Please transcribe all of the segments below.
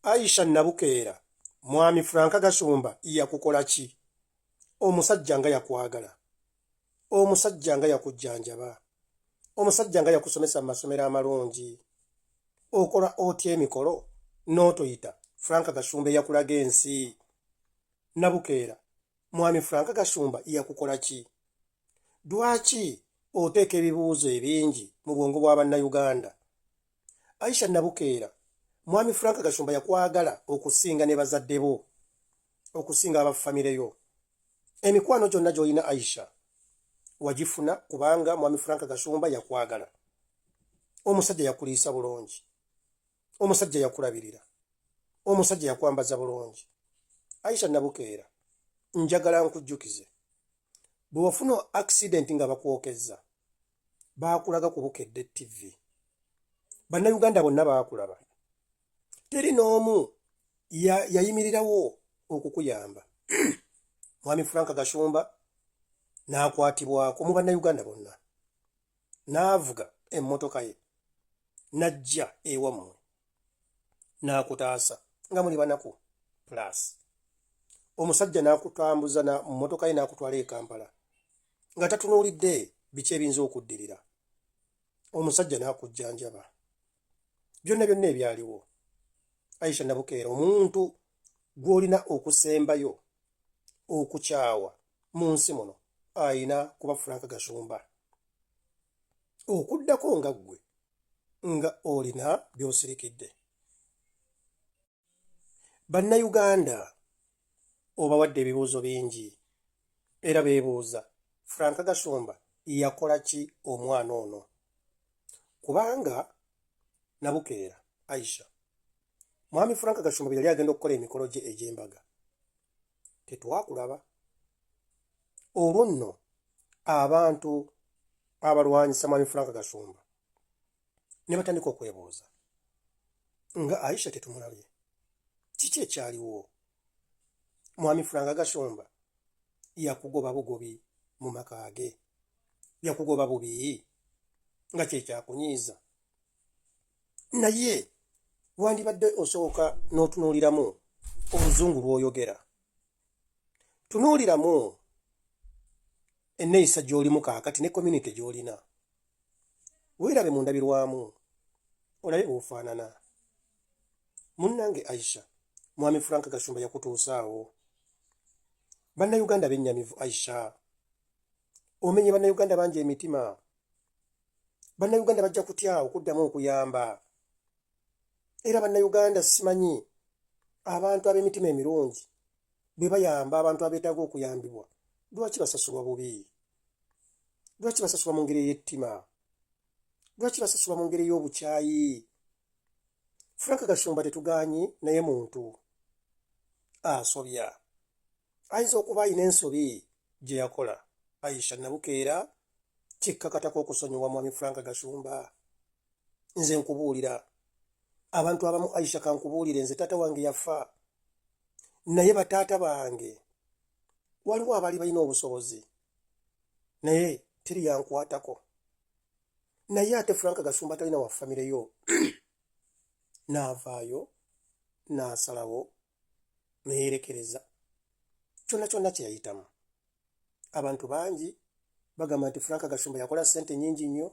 Aisha Nabukeera mwami Frank Gashumba yakukola ki omusajja nga yakwagala omusajja nga yakujjanjaba omusajja nga yakusomesa mu masomero amalungi okola otya emikolo n'otoyita Frank Gashumba eyakulaga ensi Nabukeera Mwami Frank Gashumba yakukola ki? Dwaki oteeka ebibuuzo ebingi mu bwongo bwa Bannayuganda? Aisha Nabukeera, Mwami Frank Gashumba yakwagala okusinga ne bazadde bo, okusinga aba famire yo. Emikwano gyonna gy'olina Aisha wagifuna kubanga Mwami Frank Gashumba yakwagala. Omusajja yakuliisa bulungi. omusajja yakulabirira omusajja yakwambaza bulungi aisha nabukeera njagala nkujjukize bwe wafuna accident nga bakwokezza baakulaga ku bukedde tv bannayuganda bonna baakulaba teri n'omu yayimirirawo okukuyamba mwami frank gashumba n'akwatibwako mu bannayuganda bonna n'avuga emmotoka ye n'ajja ewammwe n'akutaasa nga muli banaku plus omusajja n'akutambuza na mmotoka ye n'akutwala e Kampala nga tatunuulidde biki ebiyinza okuddirira omusajja n'akujjanjaba byonna byonna ebyaliwo Aisha Nabukeera omuntu gw'olina okusembayo okukyawa mu nsi muno alina kuba frank gashumba okuddako nga ggwe nga olina by'osirikidde bannayuganda obawadde ebibuuzo bingi era beebuuza frank gashumba yakola ki omwana ono kubanga nabukeera aisha mwami frank gashumba bye yali agenda okukola emikolo gye egy'embaga tetwakulaba olwo nno abantu abalwanyisa mwami frank gasumba ne batandika okwebuuza nga aisha tetumulabye kiki ekyaliwo mwami frank gasumba yakugoba bugobi mu maka ge yakugoba bubi nga kyekyakunyiiza naye wandibadde osooka n'otunuuliramu oluzungu lw'oyogera tunuuliramu enneeyisa gy'olimu kaakati ne community gy'olina weerabe mu ndabirwamu olabe bwofaanana munnange aisha mwami frank gashumba yakutuusaawo bannayuganda bennyamivu aisha omenye bannayuganda bangi emitima bannayuganda bajja kutya okuddamu okuyamba era bannayuganda simanyi abantu ab'emitima emirungi bwe bayamba abantu abeetaaga okuyambibwa lwaki basasulwa bubi lwaki basasulwa mu ngeri ey'ettima lwaki basasulwa mu ngeri ey'obukyayi frank gashumba tetugaanyi naye muntu asobya ah, ayinza okuba alina ensobi gye yakola aisha nabukeera kikkakatako okusonyiwa mwami frank gashumba nze nkubuulira abantu abamu aisha kankubuulire nze taata wange yafa naye bataata bange waliwo abaali balina obusobozi naye teri yankwatako naye ate frank gashumba talina wa famireyo n'avaayo n'asalawo neyerekereza kyona kyona kyeyayitamu abantu bangi bagamba nti frank gashumba yakola sente nyingi nnyo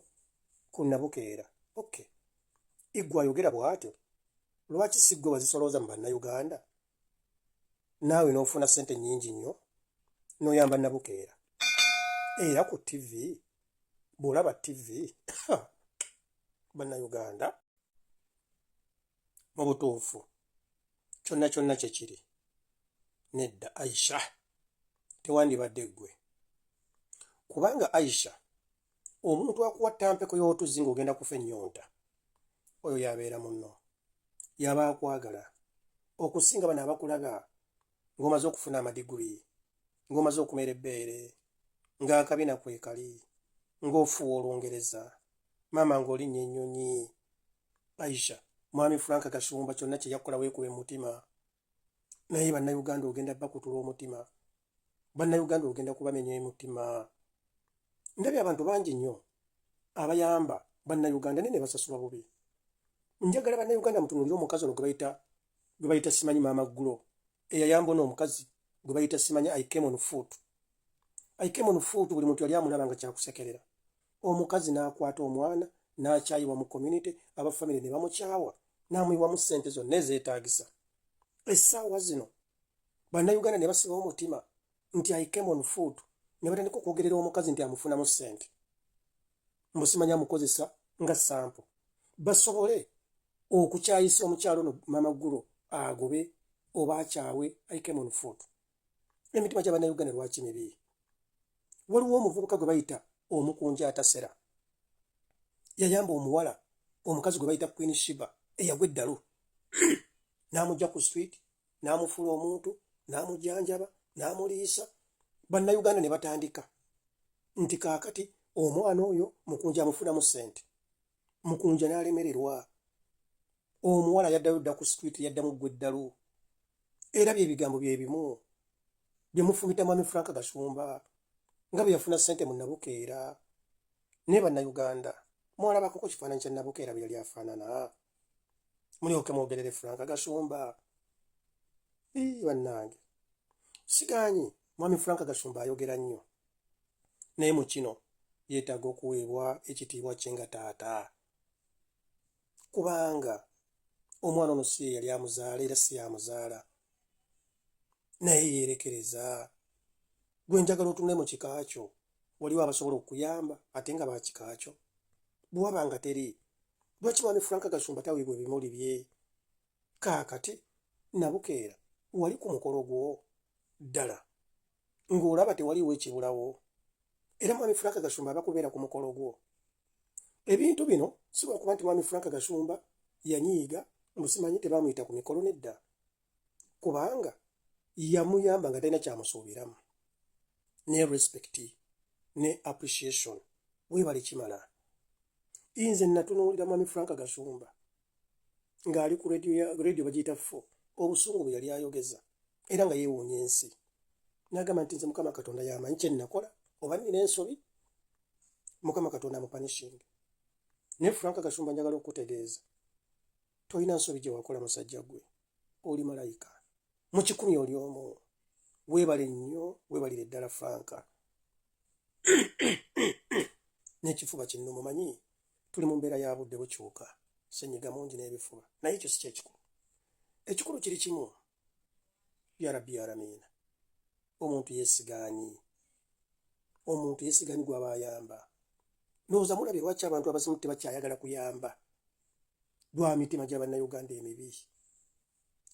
ku nabukeera ok igwe ayogera bwatyo lwaki sigwe wazisolooza mu bannauganda naawe n'ofuna sente nyingi nnyo noyamba nabukeera era ku tv bwolaba tv bannauganda mu butuufu kyonna kyonna kye kiri nedda aisha tewandibadde ggwe kubanga aisha omuntu akuwa tampeko y'otuzzi ng'ogenda kufa ennyonta oyo yabeera munno yaba akwagala okusinga bano abakulaba ng'omaze okufuna amadiguli ng'omaze okumera ebbeere ng'akabina kwekali ng'ofuwa olungereza maama ng'olinnya ennyonyi aisha mwami frank gashumba kyonna kye yakukola weekuba emutima naye bannayuganda ogenda bakutula omutima bannayuganda ogenda kubamenya emutima ndabye abantu bangi nnyo abayamba bannayuganda naye ne basasulwa bubi njagala bannayuganda mutunulire omukazi ono gwe bayita gwe bayita simanyi maama gulo eyayamba ono omukazi gwe bayita simanyi i came on foot i came on foot buli muntu yali amulaba nga kyakusekerera omukazi n'akwata omwana n'akyayibwa mu community aba famire ne bamukyawa n'amuyiwamu ssente zonna ezeetaagisa essaawa zino bannayuganda ne basiba omutima nti i came on foot ne batandika okwogerera omukazi nti amufunamu ssente mbu simanyi amukozesa nga sampo basobole okukyayisa omukyalo no mama gulo agobe oba akyawe i came on foot emitima gya bannayuganda lwaki mibi waliwo omuvubuka gwe bayita omukunja atasera yayamba omuwala omukazi gwe bayita queen shiba eyagwa eddalu n'amugya ku street n'amufuula omuntu n'amujanjaba n'amuliisa bannayuganda ne batandika nti kaakati omwana oyo mukunja amufunamu ssente mukunja n'alemererwa omuwala yaddayo dda ku street yaddamu ggwa eddalu era bye bigambo bye bimu bye mufumita mwami frank gashumba nga bwe yafuna ssente mu nabukeera naye bannayuganda mwalabako ku kifaananyi kya nabukeera bwe yali afaanana mulyoke mwogerere frank gasumba bannange sigaanyi mwami frank gasumba ayogera nnyo naye mu kino yeetaaga okuweebwa ekitiibwa kye nga taata kubanga omwana ono si ye yali amuzaala era si yamuzaala naye yerekereza gwe njagala otunule mu kika kyo waliwo abasobola okuyamba ate nga bakika kyo bwewaba nga teri lwaki mwami frank gasumba taweebwa ebimuli bye kaakati nabukeera wali ku mukolo gwo ddala ng'olaba tewaliwo ekibulawo era mwami frank gasumba aba kubeera ku mukolo gwo ebintu bino si lwakuba nti mwami frank gasumba yanyiiga mbu simanyi tebaamuyita ku mikolo nedda kubanga yamuyamba nga talina kyamusuubiramu ne respect ne appreciation webale kimala inze natunuulira mwami frank gasumba ng'ali ku radio bagiyita fo obusungu bwe yali ayogeza era nga yeewuunya ensi nagamba nti nze mukama katonda yamanyi kyenakola oba nina ensobi mukama katonda amupanishinga naye frank gasumba njagala okutegeeza tolina nsobi gye wakola musajja gwe oli malayika mu kikumi oli omu weebale nnyo weebalire ddala franka n'ekifuba kinno mumanyi tuli mu mbeera ya budde bukyuka senyiga mungi n'ebifuba naye ekyo si kyekikulu ekikulu kiri kimu ya rabbi yalamiina omuntu yesigaani omuntu yesigaani gwaba ayamba nooza mulabye lwaki abantu abazimu tebakyayagala kuyamba lwa mitima gya bannayuganda emibi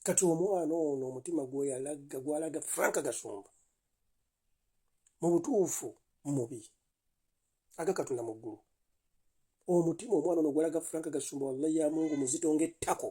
kati omwana ono omutima gweyalaga gwalaga franka gasumba mu butuufu mubi aga katonda mu ggulu omutima omwana ono ogwalaga franka gasumba wallahi ya mungu muzito ng'ettako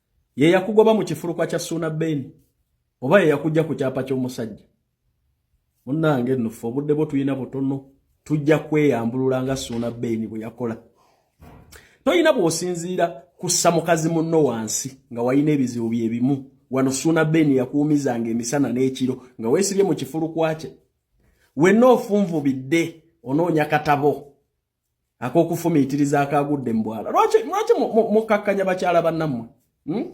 ye yakugoba mu kifulukwa kya suuna beni oba ye yakujja ku kyapa ky'omusajja munnange nnufe obudde bwo tulina butono tujja kweyambulula nga suuna beni bwe yakola tolina bw'osinziira kussa mukazi munno wansi nga walina ebizibu bye bimu wano suuna beni yakuumizanga emisana n'ekiro nga weesibye mu kifulukwa kye wenna ofunvubidde onoonya katabo akokufumiitiriza akaagudde mu bwala lwaki mukkakkanya bakyala bannammwe hmm?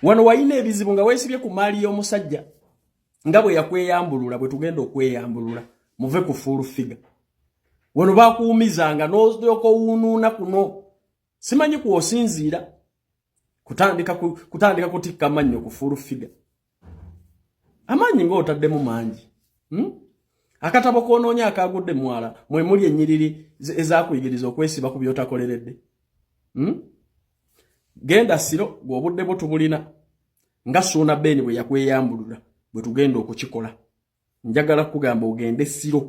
wano walina ebizibu nga weesibye ku maali y'omusajja nga bwe yakweyambulula bwe tugenda okweyambulula muve ku fuulu figa wano bakuwumizanga n'olyoka owuunuuna kuno simanyi kwosinziira kutandika kutandika kutikka amannyo ku full figure amaanyi ng'otaddemu mangi hmm? akatabo k'onoonya akaagudde mwala mwe muli ennyiriri ezakuyigiriza okwesiba ku by'otakoleredde hmm? genda siro gweobudde bwo tubulina nga suuna beeni bwe yakweyambulula bwe tugenda okukikola njagala kugamba ogende siro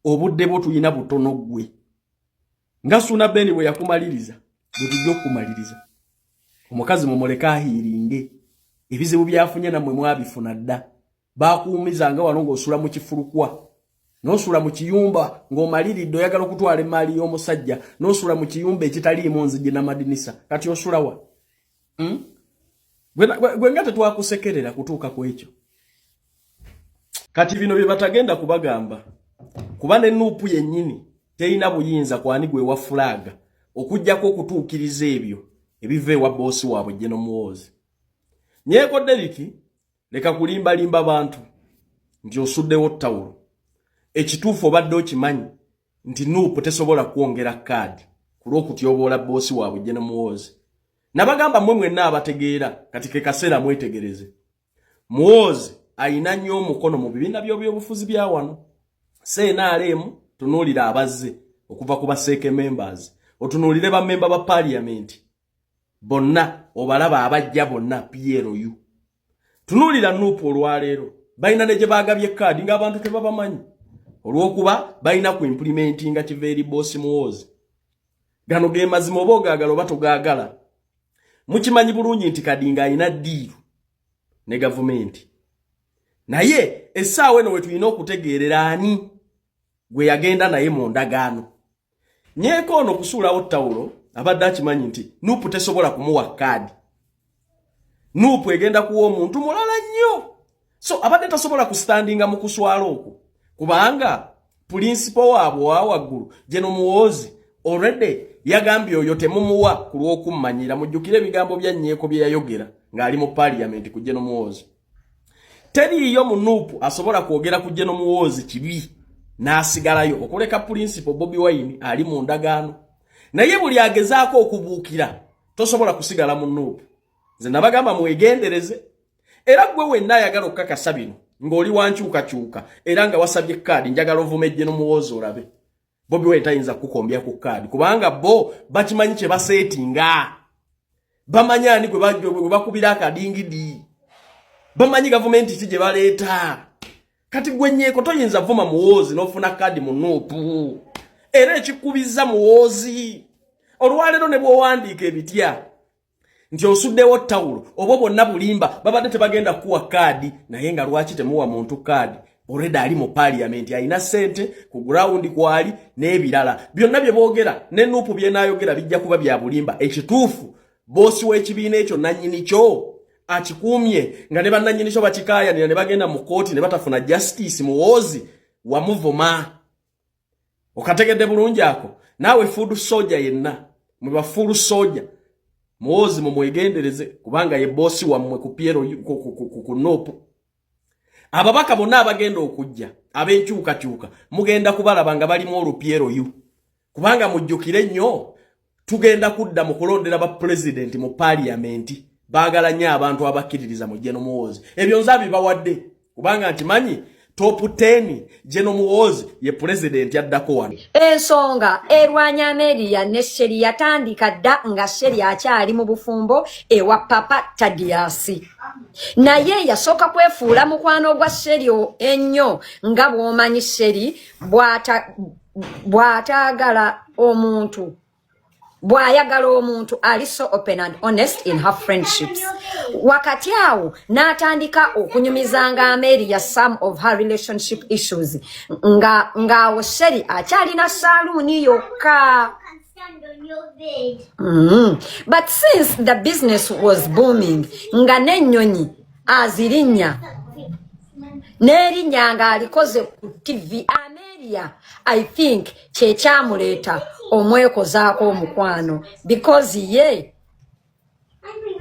obudde bwo tulina butono gwe nga suna beni bwe yakumaliriza bwetujja okukumaliriza omukazi mumuleke ahiiringe ebizibu byafunye namwe mwabifuna dda bakuumiza nga wano ngaosula mu kifulukwa nosula mu kiyumba ng'omaliridde oyagala okutwala emaali y'omusajja nosula mu kiyumba ekitaliimu nzigi namadinisa kati osulawa hmm? gwe nga tetwakusekerera kutuuka ku ekyo kati bino bye batagenda kubagamba kuba ne nuupu yennyini terina buyinza kwani gwe wa fulaaga okujjako okutuukiriza ebyo ebiva ewa boosi waabwe jeno muwoozi nyeeko deriki leka kulimbalimba bantu nti osuddewo tawulo ekituufu obadde okimanyi nti nuupu tesobola kwongera kaadi ku lw'okutyoboola bboosi waabwe Jene Muwoozi. Nabagamba mmwe mwenna abategeera kati ke kaseera mwetegereze. Muwoozi alina nnyo omukono mu bibiina by'obyobufuzi bya wano. CNRM tunuulira abazze okuva ku baseeke members, otunuulire bammemba ba paaliyamenti bonna obalaba abajja bonna plu tunuulira nuupu olwaleero balina ne gye baagabye kaadi ng'abantu tebabamanyi olw'okuba balina ku implimenti nga kiva eri boosi muwoozi gano ge mazima oba ogaagala oba togaagala mukimanyi bulungi nti kadi ng'alina ddiiru ne gavumenti naye essaawa eno we tulina okutegeerera ani gwe yagenda naye mu ndagaano nyeeko ono kusuulawo tawulo abadde akimanyi nti nuupu tesobola kumuwa kaadi nuupu egenda kuwa omuntu mulala nnyo so abadde tasobola kusitandinga mu kuswala okwo kubanga pulinsipo waabwe owa waggulu geno muwoozi olredde yagambye oyo temumuwa ku lw'okummanyira mujjukire ebigambo bya nyeeko bye yayogera ng'ali mu paliyamenti ku geno muwoozi teriiyo munuupu asobola kwogera ku jeno muwoozi kibi n'asigalayo okuleka pulinsipo bobi wayini ali mu ndagaano naye buli agezaako okubuukira tosobola kusigala mu nuupu nze nabagamba mwegendereze era gwe wenna ayagala okukakasa bino ng'oli wankyukakyuka era nga wasabye kaadi njagala ovume jeno muwoozi olabe Bobi Wine tayinza kukukombya ku kaadi kubanga bo bakimanyi kye baseetinga. Bamanyi ani gwe bakubira akadingidi. Bamanyi gavumenti ki gye baleeta. Kati gwe nyeeko toyinza vuma muwoozi n'ofuna kaadi mu nuupu. Era ekikubizza muwoozi. Olwaleero ne bw'owandiika ebitya nti osuddewo tawulo obwo bwonna bulimba babadde tebagenda kuwa kaadi naye nga lwaki temuwa muntu kaadi olwedde ali mu paliyamenti alina ssente ku gurawundi kwali n'ebirala byonna bye boogera ne nuupu byenaayogera bijja kuba bya bulimba ekituufu boosi w'ekibiina ekyo nannyini kyo akikuumye nga ne bannannyini kyo bakikaayanira ne bagenda mu kkooti ne batafuna justice muwoozi wamuvuma okategedde bulungi ako naawe fuudu soja yenna mwe bafuulu soja muwoozi mumwegendereze kubanga ye boosi wammwe ku piero ku noopu ababaka bonna abagenda okujja ab'enkyukakyuka mugenda kubalaba nga balimu olupyeroyu kubanga mujjukire nnyo tugenda kudda mu kulondera ba pulezidenti mu paliyamenti baagala nnyo abantu abakkiririza mu jeno muwoozi ebyo nze abibawadde kubanga nkimanyi topu 10 jeno muwoozi ye pulezidenti addako wano ensonga erwanya ameriya ne sheri yatandika dda nga sheri akyali mu bufumbo ewa papa tadiyasi naye yasooka kwefuula mukwano gwa sheri ennyo nga bw'omanyi sheri bw'ataagala omuntu bw'ayagala omuntu ali so open and honest in her friendships wakati awo n'atandika okunyumizanga ameeri ya some of her relationship issues ng'awo sheri akyalina saaluuni yokka mm-hmm. but since the business was booming nga n'ennyonyi azirinnya n'erinnya ng'alikoze ku tivi ameria i think kyekyamuleeta omwekozaako omukwano because ye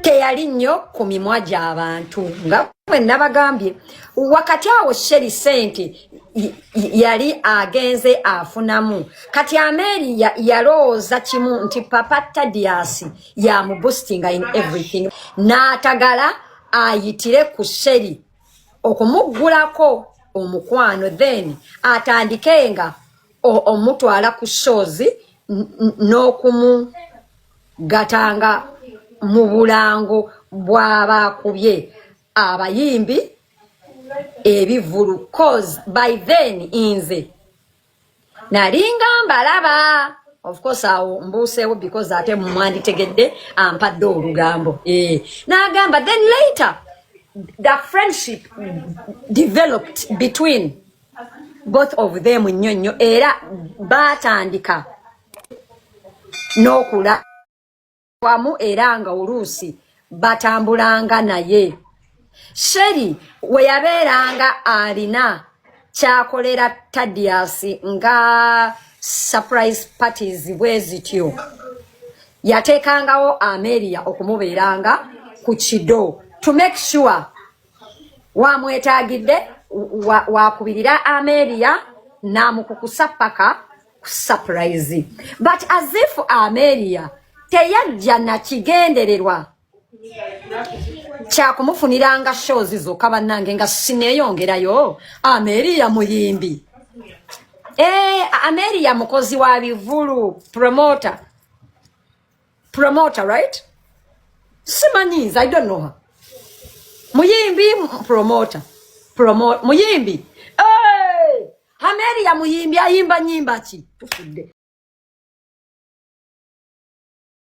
teyali nnyo ku mimwa gy'abantu nga bwe nabagambye wakati awo sheri sente yali agenze afunamu kati ameeri yalowooza kimu nti papa tadiasi yamubustinga in everything n'atagala ayitire ku sheri okumuggulako omukwano then atandike nga omutwala ku shows n'okumugatanga mu bulango bw'abaakubye abayimbi ebivulu cause by then inze nalinga mbalaba of course awo mbuuseewo because ate mumwanditegedde ampadde olugambo eh, nagamba then later the friendship developed between both of them nnyo nnyo era baatandika n'okula wamu era nga oluusi batambulanga naye sheri we yabeeranga alina kyakolera tadiasi nga surprise parties bwe zityo yateekangawo ameria okumubeeranga ku kido to make sure wamwetagidde wakubirira wa ameria namukukusa paka surprise but as if ameria teyajja nakigendererwa kyakumufuniranga shows zokka bannange nga sineeyongerayo ameria muyimbi e, ameria mukozi wa bivulu promota promoter right simanyiiza i don't know her muyimbi promoter promo muyimbi hey! ameria muyimbi ayimba nyimba ki tufudde